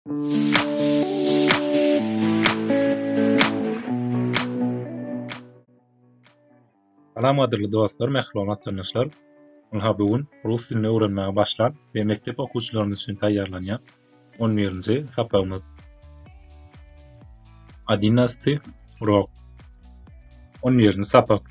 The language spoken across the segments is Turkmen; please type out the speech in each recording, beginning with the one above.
Salam gadyrly dostlar, mähriban tanşlar. Ynha bu gün rus dilini öwrenmäge başlan we mekdep okuwçylarymyz üçin taýýarlanýan 11-nji sapagymyz. Adinasty urok. 11-nji sapak.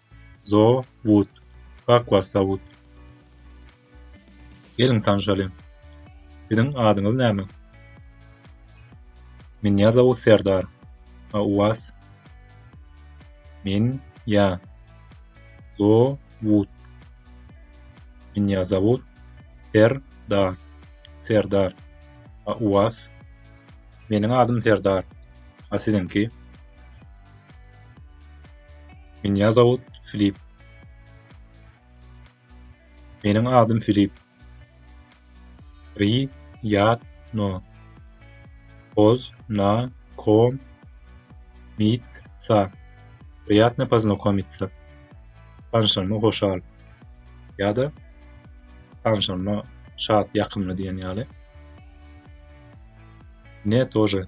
Zo wood. Aqua sawut. Geliň tanşalyň. Siziň adyňyz näme? Minýa zawut Serdar. A u was? Min ya. Zo wood. Minýa zawut Serdar. Serdar. A u was? Meniň adym Serdar. A siziňki? Minýa zawut Filip. Meniň adym Filip. Ri ýat no. Poz na kom mit sa. Priýatna poznokomitsä. Tanşanyma hoşal. Ýa-da tanşanyma şat, ýakymly diýen ýaly. Ne tože.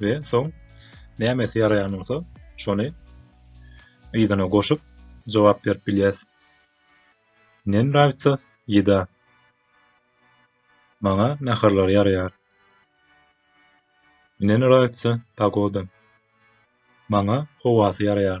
we soň nämesi ýaraýan bolsa şony yzyna goşup jogap berip bilýäs. Ne nrawitsa ýeda. Maňa naharlar ýaraýar. Ne nrawitsa pagoda. Maňa howasy ýaraýar.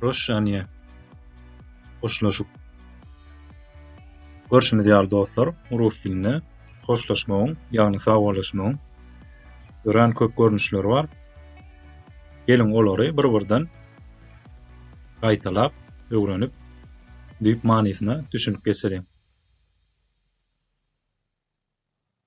Proşşaniýe. Hoşlaşyk. Görşümiz ýaly dostlar, rus dilinde hoşlaşmagyň, ýagny sagboluşmagyň örän köp görnüşleri bar. Geliň olary bir-birden gaýtalap, öwrenip, düýp manysyna düşünip geçeliň.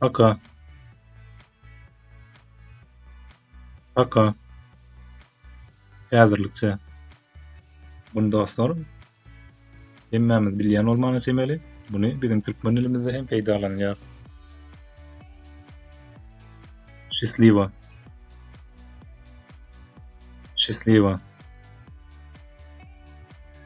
Paka. Paka. Häzirlikçe. Bunu dostlar. Hemmemiz bilýän bolmana çemeli. Bunu biziň türkmen dilimizde hem peýdalanýar. Şisliwa. Şisliwa.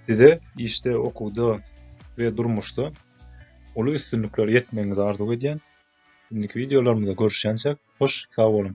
Size işde, okuwda we durmuşda uly üstünliklere ýetmegiňizi arzuw edýän. Indiki wideolarymyzda görüşýänçäk, hoş sag boluň!